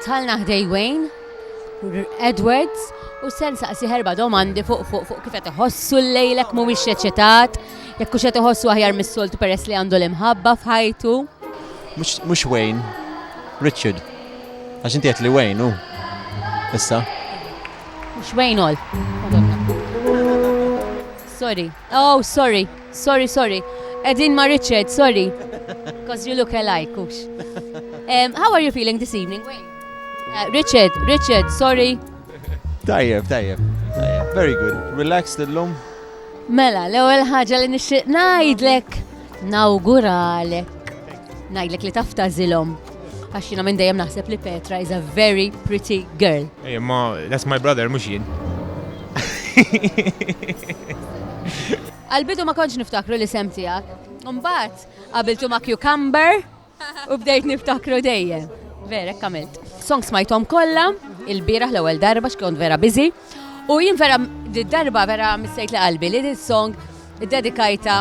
Dħalna ħdej Wayne, Edwards, u se nsaqsih erba' domandi fuq fuq fuq kif qed iħossu llejl hekk mhuwiex eċitat, jekk hux qed iħossu aħjar mis-soltu peress li għandu l-imħabba f'ħajtu. Mhux mhux Wayne, Richard. Għax inti għedt li Wayne hu issa. Mhux Wayne all. Madonna. Sorry. Oh, sorry. Sorry sorry. Qegħdin ma' Richard, sorry. Coz you look alike, hux. Ehm, how are you feeling this evening, Wayne? Eh, Richard, Richard, sorry. Tajjeb, tajjeb. Very good. Relaxed illum? Mela, l-ewwel ħaġa li nixtieq ngħidlek nawguralek. Ngħidlek li taftażilhom. Għax jiena minn dejjem naħseb li Petra is a very pretty girl. Ej, ma that's my brother mhux jien. Għalbidu ma kontx niftakru li sem tiegħek. Mbagħad qabiltu ma' cucumber u bdejt niftakru dejjem. Verek kamilt. Songs smajthom kollha, il-bieraħ l-ewwel darba x'kont vera biżi. U jien vera darba vera missejt li qalbi li this song dedikajta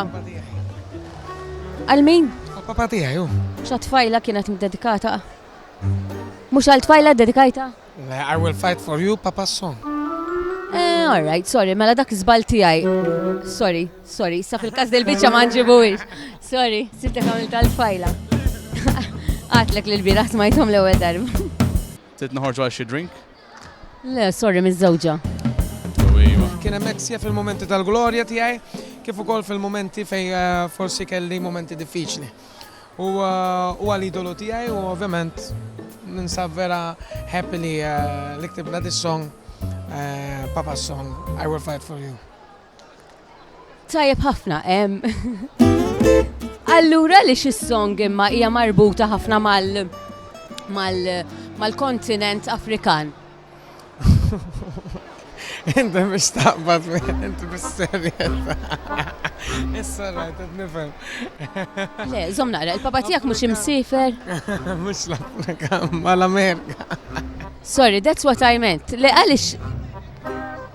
għal min? Papa tiegħi hu. Xa tfajla kienet dedikata? Mhux għal tfajla dedikajta? Le, I will fight for you, papa song. Eh, all right, sorry, mela dak żbal tiegħi. Sorry, sorry, sa fil-każ del biċċa ma nġibuwix. Sorry, sibtek għamil tal-tfajla. Għatlek li l-biraħ smajthom l-ewwel darba. Sitt noħorġu għal xi drink. Le, sorry, miżżewġa. Kien hemm hekk sija fil-mumenti tal-glorja tiegħi kif ukoll fil-mumenti fejn eh, forsi kelli mumenti diffiċli. U eh, huwa l-idolu tiegħi u ovvjament ninsab vera happy li eh, li ktibna dis-song Papa Song I Will Fight For You. Tajjeb ħafna, em. Allura li xi song imma hija marbuta ħafna mal mal mal-kontinent Afrikan. Inti biex taqbad inti bis-serjetà. Issa rajt qed nifhem. Le, żomm naqra, il-papa tiegħek mhux imsiefer? Mhux l-Afrika, mal-Amerika. Sorry, that's what I meant. Le għaliex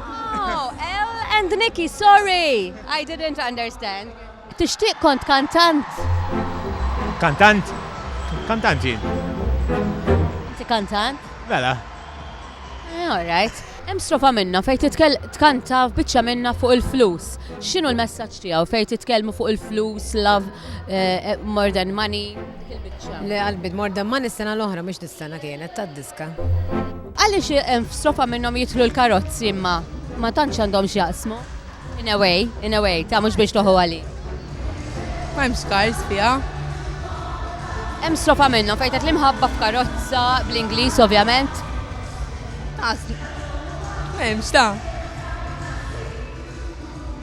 Oh, L and Nikki, sorry! I didn't understand. Tixtieq kont kantant? Kantant? Kantant jien. Inti kantant? Mela. Eh, all right. Hemm strofa minna fejn titkell tkanta biċċa minna fuq il-flus. X'inhu l-messaġġ tiegħu fejn titkellmu fuq il-flus, love, eh, eh, more than money? Le qalbi more than money s-sena l-oħra mhux dis-sena kienet tad-diska. Għaliex f'strofa minnhom jidħlu l-karozzi imma ma tantx għandhom x'jaqsmu? In a way, in a way, ta' mhux biex toħu għali. Ma hemm skars fiha. Hemm strofa minnhom fejn tgħid l-imħabba f'karozza bl-Ingliż ovvjament. Ma hemmx ta'.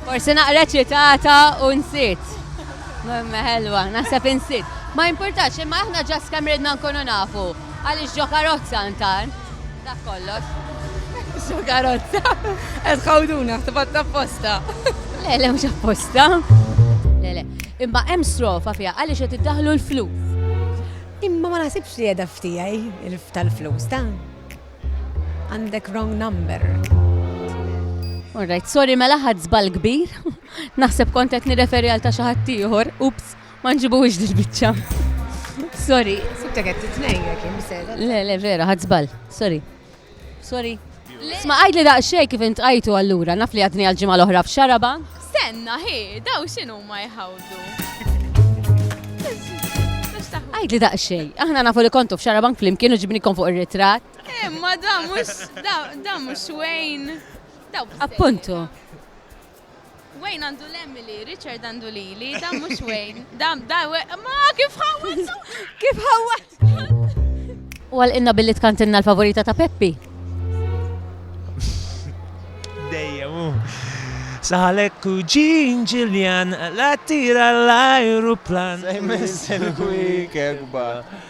Forsi naqra ċitata u nsit. Memme ħelwa, naħseb insit. Ma importax, imma aħna ġas kemm ridna nkunu nafu. Għaliex ġo karozza intant? Dak kollox. Ġo karozza. Qed ħawduna, ħtibat apposta. Le, le, mhux apposta. Le, le. Imma hemm strofa fiha għaliex qed iddaħlu l-flus. Imma ma naħsibx li qiegħda ftijaj tal-flus ta' għandek wrong number. Alright, sorry mela ħadd żball kbir. Naħseb kont qed nirreferi għal ta' xi ħadd ieħor. Ups. Ma nġibuhiex dil-biċċa. Sorry. Sibta qed titnejn jekk imsejla. Le, le, vera, ħadd żball. Sorry. Sorry. Sma għajd li daqsxejn kif int qajtu allura, naf li għadni għal-ġimgħa l-oħra f'xaraba. Stenna, hi, daw x'inhu ma jħawdu. Għajd li daqsxejn, aħna nafu li kontu f'xarabank flimkien u ġibnikom fuq ir-ritratt. Imma eh, da mhux da mhux Wayne. Appuntu. Wayne għandu l-Emily, Richard għandu Lili, dan mux Wayne. Dan, dan, ma kif ħawat! Kif ħawat! U għal inna billi tkantinna l-favorita ta' Peppi. Dejjem, Saħalek u ġin ġiljan, la tira l-ajruplan. Sejmen sen kwik ekba.